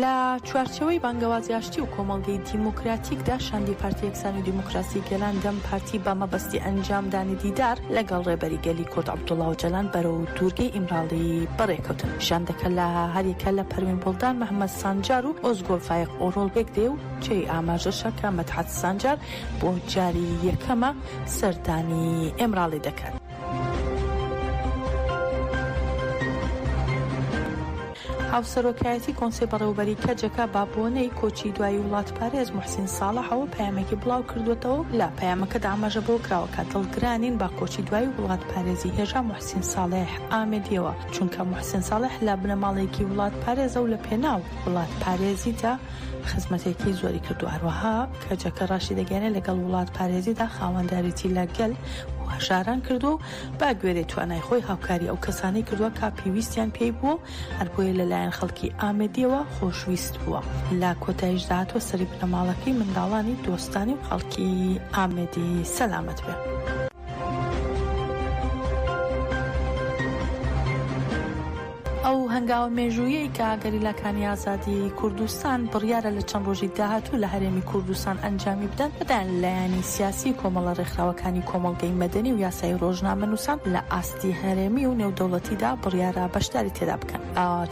لە چوارچێوەی بانگەوازی ئاشتی و کۆمەڵگەی دیموکراتیکدا شاندی پارتی یەکسانی دیموکراسی گەلان دەم پارتی بە مەبەستی ئەنجامدانی دیدار لەگەڵ ڕێبەری گەلی کورد عەبدوڵا ئۆجالان بەرەو دوورگەی ئیمراڵی بەڕێکەوتن شاندەکە لە هەریەکە لە پەروین بوڵدان محەممەد سانجار و ئۆزگۆل فایق ئۆرۆڵ پێک دێ و جێی ئاماژەشە کە مەدحەت سانجار بۆ جاری یەکەمە سەردانی ئیمراڵی دەکات. هاوسەرۆکایەتی کۆنسەی بەڕێوەبەریی کەجەکە بە بۆنەی کۆچی دوایی وڵاتپارێز موحسین ساڵەحەوە پەیامێکی بڵاوکردووەتەوە و لە پەیامەکەدا ئاماژە بەوە کراوە کە دڵگرانین بە کۆچی دوایی وڵاتپارێزی هێژا موحسین ساڵح ئامێدییەوە، چونکە موحسین ساڵح لە بنەماڵەیەکی وڵاتپارێزە و لەپێناو وڵاتپارێزیدا خزمەتێکی زۆری کردووە، هەروەها کەجەکە راشیدەگەیەنێت لەگەڵ وڵاتپارێزیدا خاوەندارێتی لە گەل و هەژاران کردووە و بەگوێرەی توانای خۆی هاوکاری ئەو کەسانەی کردووە کە پێویستیان پێی بووە و هەربۆیە لەلایەن خەڵکی ئامێدییەوە خۆشویست بووە. لە کۆتاییشدا هاتووە سەری بنەماڵەکەی، منداڵانی، دۆستانی و خەڵکی ئامێدی سەلامەت بێ. ئەو هەنگاوە مێژووییەی کە گەریلاکانی ئازادی کوردستان بڕیارە لە چەند ڕۆژی داهاتوو لە هەرێمی کوردستان ئەنجامی بدەن، لەلایەن لایەنی سیاسی و کۆمەڵە ڕێکخراوەکانی کۆمەڵگەی مەدەنی و یاسایی ڕۆژنامەنووسان لە ئاستی هەرێمی و نێودەوڵەتیدا بڕیارە بەشداری تێدا بکەن.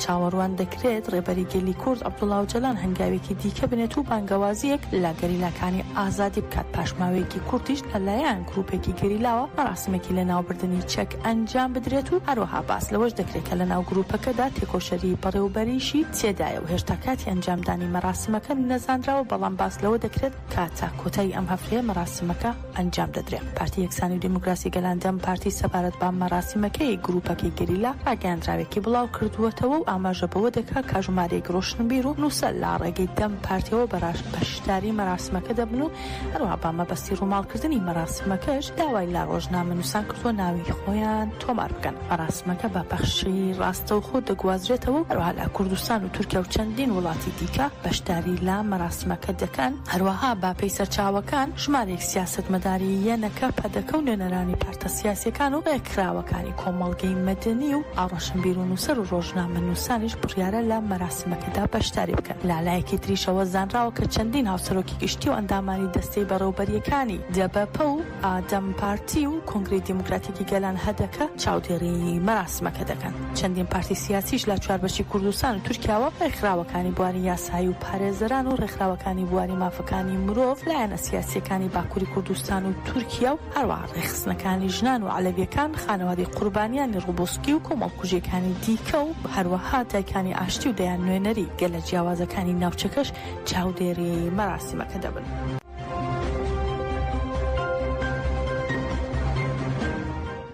چاوەڕوان دەکرێت ڕێبەری گەلی کورد عەبدوڵا ئۆجالان هەنگاوێکی دیکە بنێت و بانگەوازییەک لە گەریلاکانی ئازادی بکات، پاش ماوەیەکی کورتیش لەلایەن گرووپێکی گەریلاوە مەراسمێکی لەناوبردنی چەک ئەنجام بدرێت و هەروەها باس لەوەش دەکرێت کە لەناو گروپەکەدا تێکۆشەری بەڕێوبەریشی تێدایە و هێشتا کاتی ئەنجامدانی مەراسمەکە نەزانراوە بەڵام باس لەوە دەکرێت کە تا کۆتایی ئەم هەفتەیە مەراسمەکە ئەنجام دەدرێت پارتی یەکسانی و دیموکراسی گەلان دەم پارتی سەبارەت بە مەراسمەکەی گروپەکەی گەریلا ڕاگەیاندراوێکی بڵاوکردووەتەوە و ئاماژە بەوە دەکات کە ژمارەیەک ڕۆشنبیر و نووسەر لە ڕێگەی دەم پارتیەوە بەشداری مەراسمەکە دەبن و هەروەها بە مەبەستی ڕووماڵکردنی مەراسمەکەش داوای لە ڕۆژنامەنووسان کردووە ناوی خۆیان تۆمار بکەن. مەراسمەکە بە پەخشی ڕاستەوخۆ دەگوازرێتەوە و هەروەها لە کوردستان و تورکیا و چەندین وڵاتی دیکە بەشداری لە مەراسمەکە دەکەن، هەروەها بە پێی سەرچاوەکان ژمارەیەک سیاسەتمەداری یەنەکە، پەدەکە و نوێنەرانی پارتە سیاسییەکان و ڕێکخراوەکانی کۆمەڵگەی مەدەنی و ڕۆشنبیر و نووسەر و ڕۆژنامەنووسانیش بڕیارە لە مەراسمەکە سیستمەکەدا بەشداری بکەن. لەلایەکی تریشەوە زانراوە کە چەندین هاوسەرۆکی گشتی و ئەندامانی دەستەی بەڕێوبەرییەکانی دەبەپە و ئادەم پارتی و کۆنگرەی دیموکراتیکی گەلان، هەدەکە، چاودێری مەراسمەکە دەکەن. چەندین پارتی سیاسیش لە چوار بەشی کوردستان و تورکیاوە رێکخراوەکانی بواری یاسایی و پارێزەران و رێکخراوەکانی بواری مافەکانی مرۆڤ، لایەنە سیاسییەکانی باکوری کوردستان و تورکیا و هەروەها. ڕێکخستنەکانی ژنان و عەلەوییەکان، خانەوادەی قوربانیانی ڕوبوسکی و کۆمەڵکوژییەکانی دیکە و هەروەها دایکانی ئاشتی و دەیان نوێنەری گەلە جیاوازەکانی ناوچەکەش چاودێری مەراسیمەکە دەبن.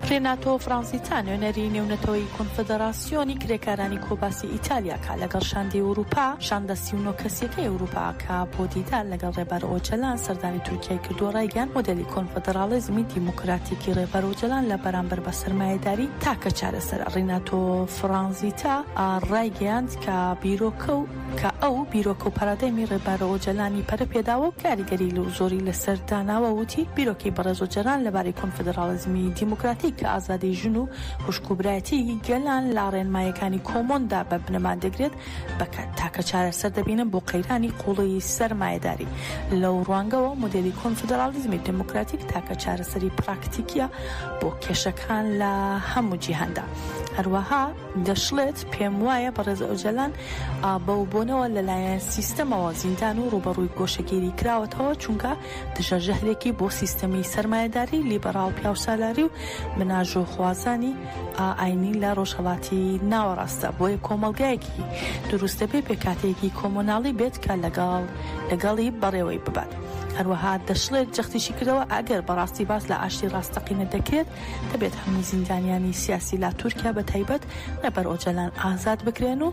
ڕێناتۆ فرانزیتا، نوێنەری نێونەتەوەیی کۆنفدڕاسیۆن، سیۆنی کرێکارانی کۆباسی ئیتالیا کە لەگەڵ شاندی ئەوروپا، شاندە سی و نۆ کەسییەکەی ئەوروپا، کە بۆ دیدار لەگەڵ ڕێبەر ئۆجەلان سەردانی تورکیای کردووە ڕایگەیاند، مۆدێلی کۆنفدڕاڵیزمی دیموکراتیکی ڕێبەر ئۆجەلان لە بەرامبەر بە سەرمایەداری تاکە چارەسەرە. ڕیناتۆ فرانزیتا ڕایگەیاند کە بیرۆکە و کە ئەو بیرۆکە و پارادایمی ڕێبەر ئۆجەلانی پەرە پێداوە و کاریگەری زۆری لەسەر داناوە وتی، بیرۆکەی بەڕێز ئۆجەلان لەبارەی کۆنفدڕاڵیزمی دیموکراتیک کە ئازادی ژن و خوشک و برایەتیەکی گەلان لە ڕێنمایەکانی کۆمۆندا بە بنەما دەگرێت بە کات تاکە چارەسەر دەبینن بۆ قەیرانی قوڵیی سەرمایەداری. لەو ڕوانگەوە مۆدێلی کۆنفدراڵیزمی دێمۆکراتیک تاکە چارەسەری پراکتیکیە بۆ کێشەکان لە هەموو جیهاندا. هەروەها دەشڵێت، پێم وایە بەڕێز ئۆجەلان بەو بۆنەوە لەلایەن سیستەمەوە زیندان و ڕووبەڕووی گۆشەگیری کراوەتەوە چونکە دژە ژەهرێکی بۆ سیستەمی سەرمایەداری لیبەڕاڵ پیاوسالاری و بناژۆخوازانی ئاینی لە ڕۆژهەڵاتی ناوەڕاستە بۆیە کۆمەڵگایەکی دروست دەبێ پێکاتەیەکی کۆمۆناڵی بێت کە لەگەڵ لەگەڵی بەڕێوەی ببات هەروەها دەشڵێت جەختیشی کردەوە ئەگەر بەڕاستی باس لە ئاشتی ڕاستەقینە دەکرێت دەبێت هەموو زیندانیانی سیاسی لە تورکیا بە تایبەت ڕێبەر ئۆجەلان ئازاد بکرێن و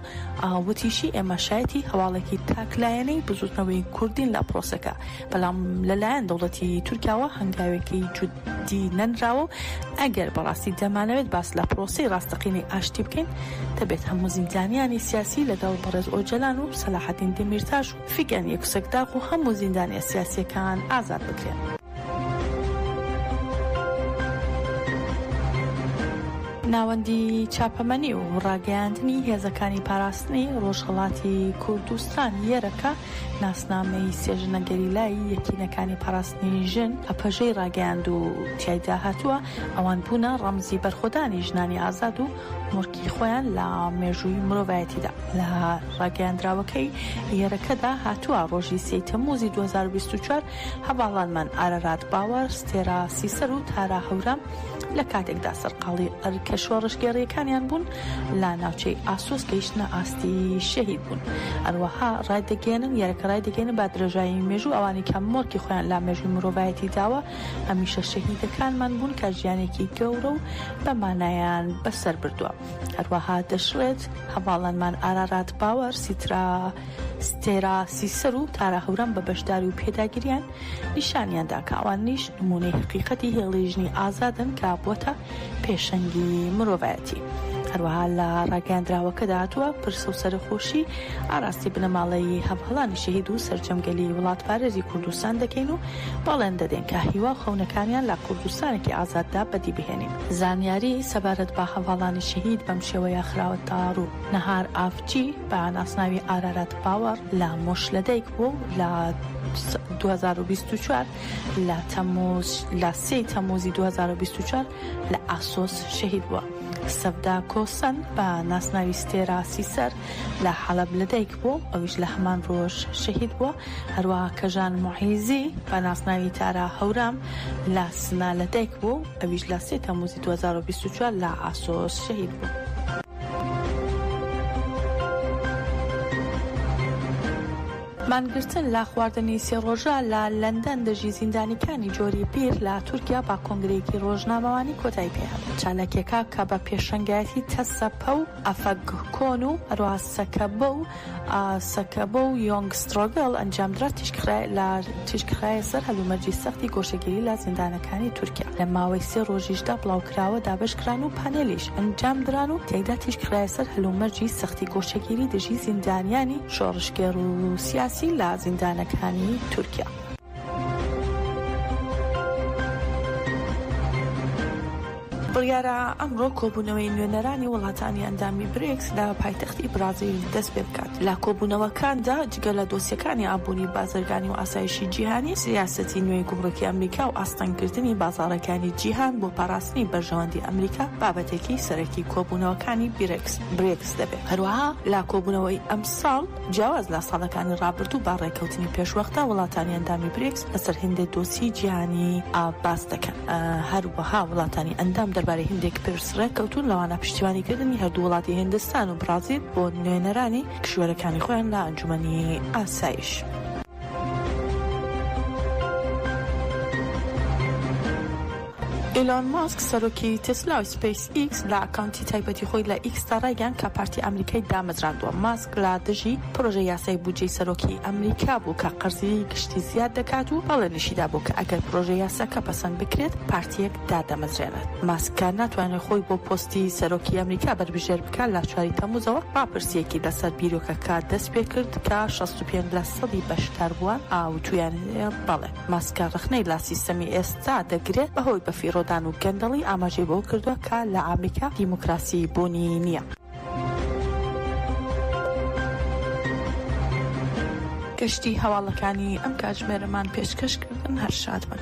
وتیشی ئێمە شایەتی هەواڵێکی تاک لایەنەی بزوتنەوەی کوردین لە پرۆسەکە بەڵام لەلایەن دەوڵەتی تورکیاوە هەنگاوێکی جدی نەنراوە و ئەگەر بەڕاستی دەمانەوێت باس لە پرۆسەی ڕاستەقینەی ئاشتی بکەین دەبێت هەموو زیندانیانی سیاسی لەگەڵ بەڕێز ئۆجەلان و سەلاحەدین دەمیرتاش و فیگەن یوکسەکداغ و هەموو زیندانیە سیاسیەکان ئازاد بکرێن. ناوەندی چاپەمەنی و ڕاگەیاندنی هێزەکانی پاراستنی ڕۆژهەڵاتی کوردستان، یەرەکە، ناسنامەی سێ ژنە گەریلایی یەکینەکانی پاراستنی ژن، ئەپەژەی ڕاگەیاند و تیایدا هاتووە، ئەوان بوونە ڕەمزی بەرخۆدانی ژنانی ئازاد و مۆرکی خۆیان لە مێژووی مرۆڤایەتیدا. لە ڕاگەیاندراوەکەی یەرەکەدا هاتووە، ڕۆژی سێی تەممووزی دوو هەزار و بیست و چوار هەڤاڵانمان ئارارات باوەر، ستێرا سیسەر و تارا هەورام لە کاتێکدا سەرقاڵی ئەرکە شۆڕشگێڕییەکانیان بوون، لە ناوچەی ئاسۆس گەیشتنە ئاستی شەهید بوون هەروەها ڕایدەگەیەنن یەرەکە ڕایدەگەیەنن با درێژایی مێژوو ئەوانی کە مۆرکی خۆیان لا مێژووی مرۆڤایەتی داوە هەمیشە شەهیدەکانمان بوون کە ژیانێکی گەورە و بە مانایان بەسەر بردووە هەروەها دەشڵێت هەڤاڵانمان ئارارات باوەر سیترا ستێرا سیسەر و تارا هەورام بە بەشداری و پێداگریان نیشانیاندا کە ئەوانیش نمونەی حقیقەتی هێڵی ژنی ئازادن کە بووەتە پێشەنگی مرۆڤایەتی. هەروەها لە ڕاگەیاندراوەکەدا هاتووە پرسە و سەرخۆشی ئاراستی بنەماڵەی هەڤهەڵانی شەهید و سەرجەمگەلی وڵاتپارێزی کوردستان دەکەین و باڵێن دەدەین کە هیوا و خەونەکانیان لە کوردستانێکی ئازاددا بەدی بهێنین. زانیاری سەبارەت بە هەڤاڵانی شەهید بەم شێوەیە خراوە تەڕوو، نەهار ئافچی بە ناسناوی ئارارات باوەڕ لە مۆشلەدایک بووە و لە دوو هەزار و بیست و چوار، لە تەمووز لە سێ ی تەمووزی دوو هەزار و بیست و چوار لە ئاسۆس شەهید بووە. سەڤدا کۆسەن بە ناسناوی ستێرا سیسەر لە حەڵەب لەدایک بووە و ئەویش لە هەمان ڕۆژ شەهید بووە، هەروەها کەژان موعیزی بە ناسناوی تارا هەورام لە سنە لەدایک بووە و ئەویش لە سێ تەمووزی دوو هەزار و بیست و چوار لە ئاسۆس شەهید بووە. مانگرتن لە خواردنی سێ ڕۆژە لە لەندەن دژی زیندانیکانی جۆری بیر لە تورکیا بە کۆنگرەیەکی ڕۆژنامەوانی کۆتایی پێهات. چالاکیەکە کە بە پێشەنگایەتی تەسەپە و ئەفەگ کۆن و هەروەها سەکەبە و سەکەبە و یۆنگ سترۆگەل ئەنجامدرا تیشکخرایە سەر هەلومەرجی سەختی گۆشەگیری لە زیندانەکانی تورکیا لە ماوەی سێ ڕۆژیشدا بڵاوکراوە دابەشکران و پانێلیش ئەنجامدران و تیایدا تیشکخرایە سەر هەلومەرجی سەختی گۆشەگیری دژی زیندانیانی شۆڕشگێڕ و سیاسی لە زیندانەکانی تورکیا. بڕیارە ئەمڕۆ کۆبوونەوەی نوێنەرانی وڵاتانی ئەندامی بریکس لە پایتەختی بڕازیل دەستپێبکات، لە کۆبوونەوەکاندا، گەلە دۆسیەکانی ئابووری، بازرگانی و ئاسایشی جیهانی، سیاسەتی نوێی گومرکی ئەمریکا و ئاستەنگکردنی بازاڕەکانی جیهان بۆ پاراستنی بەرژەوەندی ئەمریکا بابەتێکی سەرەکی کۆبوونەوەکانی بیرێکس، Brics، دەبێت. هەروەها لە کۆبوونەوەی ئەمساڵ جیاواز لە ساڵەکانی ڕابردوو بە ڕێککەوتنی پێشوەختە وڵاتانی ئەندامی بریکس لەسەر هێندێک دۆسیەی جیهانی باس دەکەن. هەروەها وڵاتانی ئەندام دەربارەی هێندێک پرس ڕێککەوتوون لەوانە پشتیوانیکردنی هەردوو وڵاتی هیندستان و بڕازیل بۆ نوێنەرانی کیشوەرەکانی خۆیان لە ئەنجومەنی ئاسایش. ئیلۆن ماسک سەرۆکی تێسلا و سپیس ئیکس لە ئەکاونتی تایبەتی خۆی لە ئیکسدا ڕایگەیان کە پارتی ئەمریکای دامەزراندووە ماسک لە دژی پرۆژە یاسای بودجەی سەرۆکی ئەمریکا بوو کە قەرزی گشتی زیاد دەکات و بەڵێنیشیدا بوو کە ئەگەر پرۆژە یاساکە پەسەند بکرێت پارتیەک دادەمەزرێنێت. ماسک کە ناتوانێت خۆی بۆ پۆستی سەرۆکی ئەمریکا بەربژێر بکات، لە چواری تەمووزەوە راپرسییەکی لەسەر بیرۆکەکە دەستپێکرد کە شەست و پێنج لە سەدی بەشداربووان وتوویان بەڵێ. ماسکە رەخنەی لە سیستەمی ئێستا دەگرێت بەهۆی بەفیڕۆدان و گەندەڵی، ئاماژەی بەوە کردووە کە لە ئەمریکا دیموکراسی بوونی نییە. گەشتی هەواڵەکانی ئەم کاتژمێرەمان پێشکەشکردن، هەر شادبن.